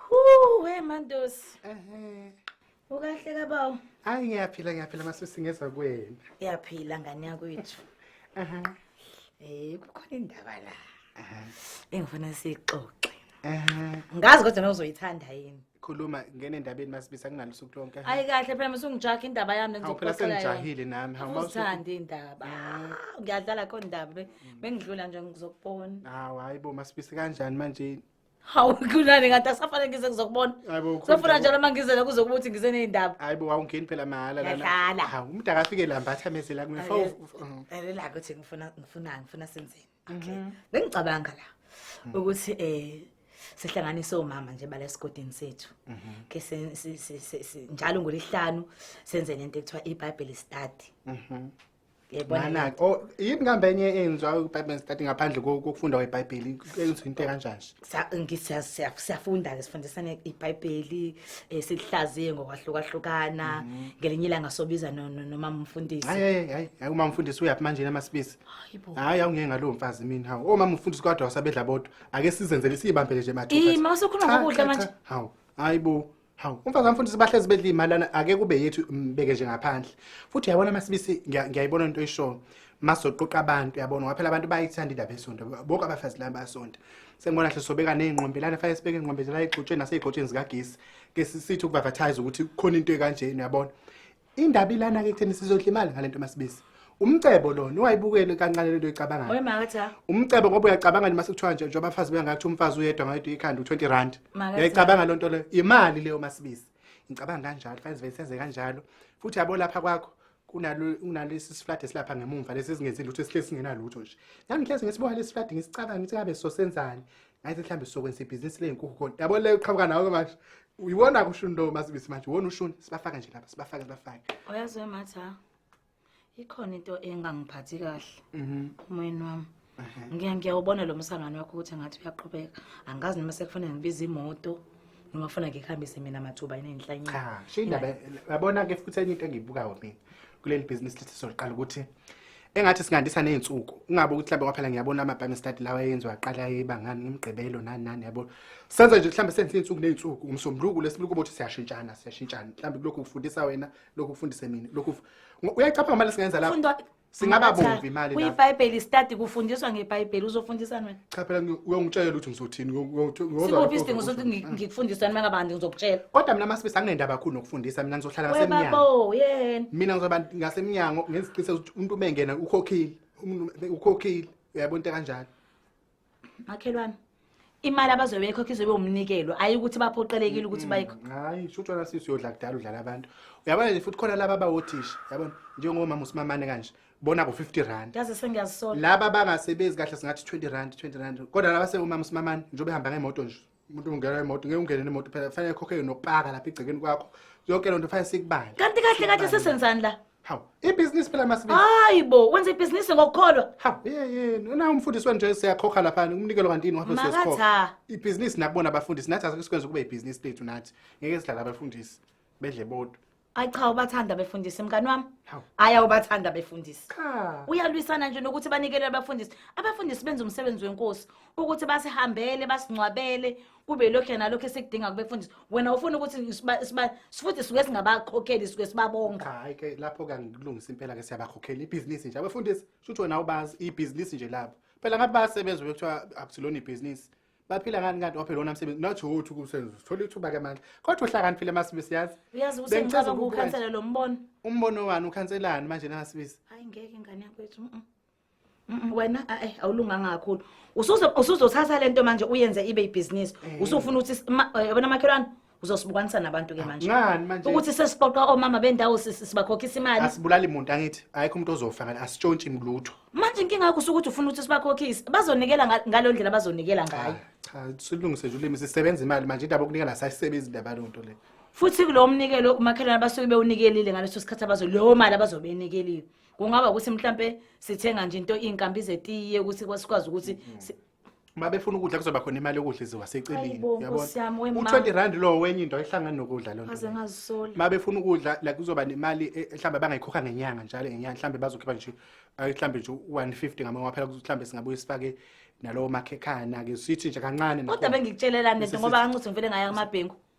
Huu, we Mandosi. Ehhe. Ukahle kabawo? Hayi ngiyaphila ngiyaphila masisi ngeza kwena. Uyaphila ngane yakwethu. Ehhe. Eh kukhona indaba la. Ehhe. Engifuna sixoxe. Ehhe. Ngazi kodwa nozoyithanda yini. khuluma ngene endabeni masibisa kungalusuku lonke ha. ayi kahle phela musungijaha indaba yami Hawu, phela ngizokuxoxela yona. sengijahile nami hawu mawusu- Uzithandi indaba Ah, ngiyadlala kho ndaba be- bengidlula nje ngizokubona hawu hayi bo masibise kanjani manje hawu kunani kanti akusafane ngize ngizokubona Hayi bo, ukhuluma sofuna njalo uma ngizela kuze kubuthi ngize ney'ndaba hayi bo wawungeni phela mahhala lana Ngiyadlala. hawu umuntu akafike lambatha amezela kumina Ayi, Fo- f- f- Elela ukuthi ngifuna ngifunani ngifuna senzeni okay Mhm. bengicabanga la Mm. ukuthi eh sihlanganise omama nje bala esigodini sethu Mhm. ke se- se- se- se- se- njalo ngolesihlanu senze lento ekuthiwa iBible study Mhm. yebona Nana, lento. oh, yini kambe enye eyenziwa uBible study ngaphandle ko- kokufunda kweBhayibheli enziwa into kanjani? Sa- ngi- siya- siya- siyafunda ke sifundisane iBhayibheli eh, silihlaziye ngokwahlukahlukana ngelinye ilanga sobiza no- no- nomama umfundisi Hayi hayi hayi, hayi uma mfundisi uyaphi manje namasibisi. Hayibo. Hayi awungeke ngalowo mfazi mina hawu. Oma mfundisi kwadwa wasabedla bodwa. Ake sizenzele sibambele nje mathupha. Ey mawusukhuluma ngokudla manje. Hawu. Hayibo. Hawu, umfazi wamfundisi bahlezi bedla imali lana ake kube yethu mbeke nje ngaphandle. Futhi yabona masibisi ngiyayibona into oyishoyo. Masoqoqa abantu yabona waphela abantu bayithanda indaba yesonto. Bonke abafazi lana basonto. Sengibona hle sobeka nezingqombe lana fanele sibeke ingqombe zela igxotsheni nasezigxotsheni zikagesi. Ke sisithi ukuadvertise ukuthi khona into ekanjena yabona. Indaba ilana ke kutheni sizodla imali ngalento masibisi. Umcebo lona uwayibukele kancane lento oyicabangayo. Oy makatha. Umcebo ngoba uyacabanga nje masikuthiwa nje njengoba abafazi bengathi umfazi uyedwa ngayedwa ikhanda u20 rand. Makatha. Uyayicabanga lonto leyo. Imali leyo masibisi. Ngicabanga kanjalo, fanele sibe senze kanjalo. Futhi yabo lapha kwakho kunalo kunalesi siflade silapha ngemumva lesi singenzi lutho esihlezi singenalutho nje. Nami ngihlezi ngisibuka lesi siflade ngisicabanga ukuthi ngabe sosenzani. Ngathi mhlambe sokwenza ibhizinisi lezinkukhu khona. Yabo leyo qhamuka nawo ke manje. uyiwona kusho into masibisi manje wona ushuni sibafaka nje lapha sibafake sibafake uyazwe matha ikhona into engangiphathi kahle mhm. umoyeni wami ngiya ngiyawubona lo msangano wakho ukuthi ngathi uyaqhubeka angazi noma sekufanele ngibize imoto noma funa ngikuhambise mina mathuba inenhlanyi cha shindaba yabona ke futhi enye into engiyibukayo mina kuleli business lithi soqala ukuthi engathi singandisa ney'nsuku ungabe ukuthi mhlawumbe kwaphela ngiyabona ama-bible study lawa eyenziwa aqala ebangani ngomgqibelo nani nani yabo senza nje mhlawumbe senze iy'nsuku ney'nsuku umsombuluko lesibuku ukuthi siyashintshana siyashintshana mhlawumbe kulokhu kufundisa wena lokhu kufundise mina lokhu uyayicapha ngamali singenza lapho singaba bomvi imali lapho kuyibhayibheli study kufundiswa ngebhayibheli uzofundisani wena cha phela ngi- uyongitshela ukuthi ngizothini uyo- uyo- uyozwa sikuphi lokho isidingo sokuthi ngi- ngikufundiseni makabandi ngizokutshela kodwa mina masibisi anginendaba kakhulu nokufundisa mina ngizohlala ngasemnyango webabo yena mina ngizoba ngasemnyango ngenza iqiniseko ukuthi umuntu uma engena ukhokhile Umuntu ukhokhile uyabona into kanjalo makhelwane imali abazobe beyikhokha izobe umnikelo ayi ukuthi baphoqelekile ukuthi bayikho hayi sho utshona sisi uyodla kudala udlala abantu uyabona nje futhi khona laba abawothisha yabona njengomama usimamane kanje bona bo 50 rand yazi sengiyazisola laba bangasebenzi kahle singathi 20 rand 20 rand kodwa laba sewumama simamani njengoba ehamba ngemoto nje umuntu ungena emoto ngeke ungene nemoto phela fanele khokhe nokupaka lapha igcekeni kwakho yonke lento fanele sikubale kanti kahle kahle sesenzani la hawu ibhizinisi phela masibi hayi bo wenza ibhizinisi ngokukholwa hawu yeyeni una umfundisi wenje siyakhokha lapha umnikelo kanti yini wabe sesikhokha ibhizinisi nakubona abafundisi nathi asikwenza kube ibhizinisi lethu nathi ngeke sidlala abafundisi bedle bodwa Ay cha ubathanda befundisi mngani wami. Hawu. Aya ubathanda befundisi. Cha. Uyalwisana nje nokuthi banikele abafundisi. Abafundisi benza umsebenzi wenkosi ukuthi basihambele, basingcwabele, kube lokho nalokho esikudinga kubefundisi. Wena ufuna ukuthi siba siba sifuthi suke singabakhokheli suke sibabonga. Hayi ke lapho ke ngikulungisa impela ke siyabakhokhela ibhizinisi nje. Abefundisi shuthi wena ubazi ibhizinisi nje labo. Phela ngathi bayasebenza bekuthiwa akusilona ibhizinisi. baphila ngani kanti waphela wona msebenzi not who uthi kusenza uthola ithuba ke manje kodwa uhlakaniphile masibisi yazi uyazi ukuthi ngicabanga ukukhansela lo mbono umbono wani ukhanselani manje na masibisi hayi ngeke ngane yakwethu wena eh awulunganga kakhulu usuze usuzothatha lento manje uyenze ibe ibhizinisi eh. usufuna ukuthi eh, yabona makhelwane uzosibukanisa nabantu ke manje ngani manje ukuthi sesiqoqa omama bendawo sisi sibakhokhisa imali asibulali muntu angithi ayikho umuntu ozofa ngani asitshontshi ngilutho manje inkinga yakho ukuthi ufuna ukuthi sibakhokhise bazonikela nga- ngalo ndlela bazonikela ngayo cha silungise nje ulimi sisebenza imali manje indaba yokunikela sayisebenzi indaba leyo nto le futhi kulowo mnikelo umakhelwane abasuke bewunikelile ngaleso sikhathi abazo leyo mali abazobe beyinikeliwe kungaba ukuthi mhlampe sithenga nje into iy'nkambi zetiye ukuthi kwasikwazi ukuthi si- uma befuna ukudla kuzoba khona imali yokudla iziwa seceleni Ayibo, uyabona? Nkosi yami, we ma. u-20 rand lowo wenye into ayihlangani nokudla loo nto aze leyo. ngazisoli uma befuna ukudla like kuzoba nemali e- mhlawumbe bangayikhokha ngenyanga njalo ngenyanga mhlawumbe bazokhipha nje ay, mhlawumbe nje u-150 ngamanye waphela kuthi mhlawumbe singabuye sifake nalowo makhekhana-ke sithi nje kancane kodwa nakhona. bengikutshelelani lento Sisi- ngoba kancuthi ngivele ngaya kumabhengu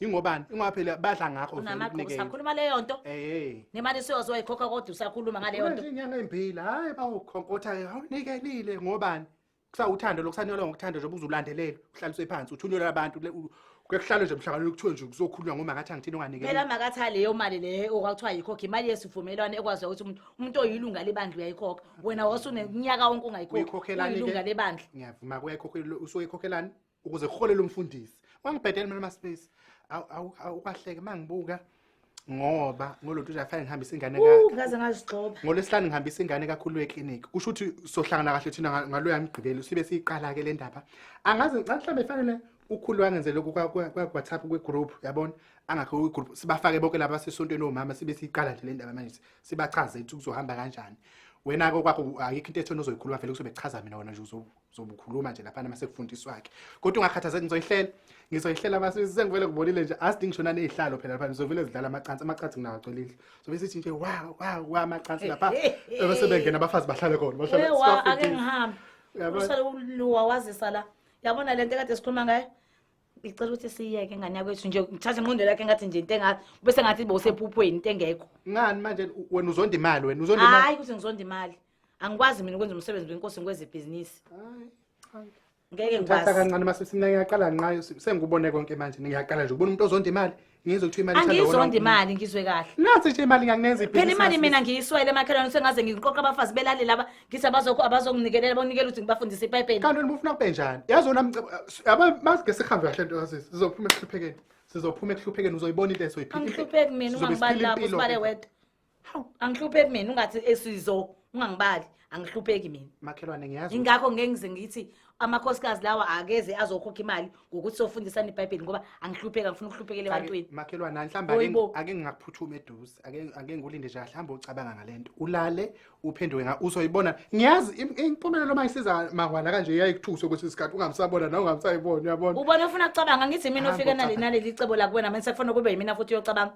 ingobani ingoba phela badla ngakho vele unamagqubu kunikeza. sakhuluma leyo nto Eh, nemali siyoze wayikhokha kodwa usakhuluma ngaleyo Uma nto nje inyanga embili hayi bawukhonkotha awunikelile ngobani kusawuthando lokusanyelwa ngokuthanda njengoba uzulandelela uhlaliswe phansi uthunyelwa abantu le- u- kuyakuhlala nje emhlanganweni kuthiwe nje kuzokhulunywa ngomakathi angithini phela onganikela makathi aleyo mali leyo okwakuthiwa yikhokha imali yesivumelwano ekwazi ukuthi umuntu umuntu oyilunga lebandla uyayikhokha wena wasuneminyaka wonke ungayikhokha uyikhokhelani uyilunga ke? lebandla ngiyavuma kuyayikhokhelwa usuke ikhokhelani ukuze kuholele umfundisi wangibhedela mina maspace awukahleke mangibuka ngoba ngoluntu nje afanele ngihambise ingane ka ngaze ngazigxoba ngolesihlanu ngihambisa ingane kakhulu eclinic kusho ukuthi sohlangana kahle thina ngalo yamgqibelo sibe siyiqala ke le ndaba angazi ngicela mhlawumbe ifanele ukhulu wangenze lokhu kwa WhatsApp kwe group yabona angakho kwi group sibafake bonke laba sesontweni omama sibe siyiqala nje le ndaba manje sibachaze ukuthi kuzohamba kanjani wena ke kwakho ayikho into ethona ozoyikhuluma vele kuzobe kuchaza mina wena nje uzobuka uzobukhuluma nje laphana uma sekufundiswa-ke kodwa ungakhathazeki ngizoyihlela ngizoyihlela basi sengivele ngibonile nje asidingi ngishona nezihlalo phela lapha ngizovele zidlala amacansi amacansi nginawo agcwele indlu sobe sithi nje wa wa wa amacansi lapha bese bengena abafazi bahlale khona bahlale Ewa, ake sibafundise. ngihambe Yabo- usale uluwa wazisa la yabona le nto ekade sikhuluma ngayo ngicela ukuthi siyeke ngane yakwethu nje ngithathe ingqondo lakhe ngathi nje into engathi bese ngathi bowusephuphweni into engekho ngani manje u- wena uzonda imali wena uzonda imali hayi ukuthi ngizonda imali angikwazi mina ukwenza umsebenzi wenkosi ngikweze ibhizinisi ngeke ngithatha kancane mase simna ngiyaqala nqayo sengikubone konke manje ngiyaqala nje ukubona umuntu ozonda imali ngizwe kuthiwa imali angizonda imali ngizwe kahle nathi nje imali nganginenza ibhizinisi phela imali mina ngiyiswele emakhelwane sengaze ngiqoqa abafazi belale laba ngithi abazokho abazonginikelela bonikela ukuthi ngibafundise ipayipeni kanti wena ufuna kube njani yazi wena aba masike sihambe kahle nto yazi sizophuma ekuhluphekeni sizophuma ekuhluphekeni uzoyibona into ezoyiphila angihlupheki mina uma ngibali lapho sibale wedwa hawu angihlupheki mina ungathi esizo ungangibali angihlupheki mina makhelwane ngiyazi ukuthi- ingakho ngeke ngize ngithi amakhosikazi lawa akeze azokhokha imali ngokuthi sofundisana ibhayibheli ngoba angihlupheki angifuna ukuhluphekela ebantwini Ake- makhelwane mhlawumbe ake- Oyibo. ake ngingakuphuthumi eduze ake ake ngulinde nje mhlawumbe ucabanga ngale nto ulale uphenduke nga uzoyibona ngiyazi im- impumelelo uma isiza mahwala kanje yayikuthuse kwesinye isikhathi ungamsabona nawe ungamsayibona uyabona ubona ufuna kucabanga ngithi mina Hamba ofika nale- ucabanga. naleli cebo lakuwena mina sekufanele kube yimina futhi uyocabanga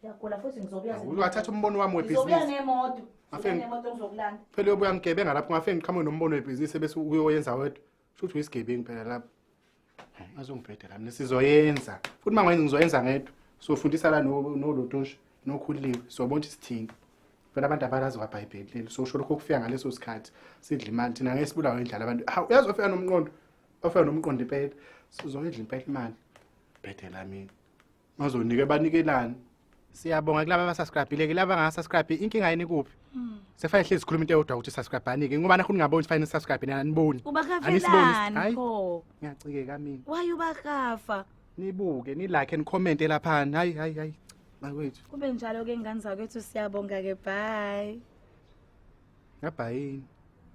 Ngiyagula futhi ngizobuya Awuke wathatha umbono wami Ngizobuya webhizinisi. nemoto. Ngizobuya Afeni. nemoto ngizokulanda. Phela uyobe uyangigebenga lapho ngafike ngiqhamuke nombono webhizinisi bese uyoyenza wedwa. Kusho ukuthi uyisigebengu phela lapho. Hayi, Azongibheda la mina sizoyenza. Futhi uma ngiyenza ngizoyenza ngedwa. Sofundisa la no nolotosha nokhuliwe. Sobona ukuthi sithini. Phela abantu abalazi kwaBhayibheli leli. So usho lokho kufika ngaleso sikhathi. Sidla imali thina ngeke sibulawe indlala abantu. Ha uyazi ofika nomqondo. Ofika nomqondo impela. Sizoyidla impela imali. Bhede la mina. Bazonike banikelani? Siyabonga kulabo abasubscribile ke laba ngasubscribe inkinga yini kuphi? Hmm. Sefaya hlezi sikhuluma into eyodwa ukuthi subscribe anike ngoba nakho ningaboni fine subscribe nina aniboni. Ubakavelani pho? Ngiyacikeka mina. Why ubakafa? Nibuke, ni like and comment lapha. Hayi hayi hayi. Bakwethu. Kube njalo ke ngane zakwethu siyabonga ke bye. Ngabhayini.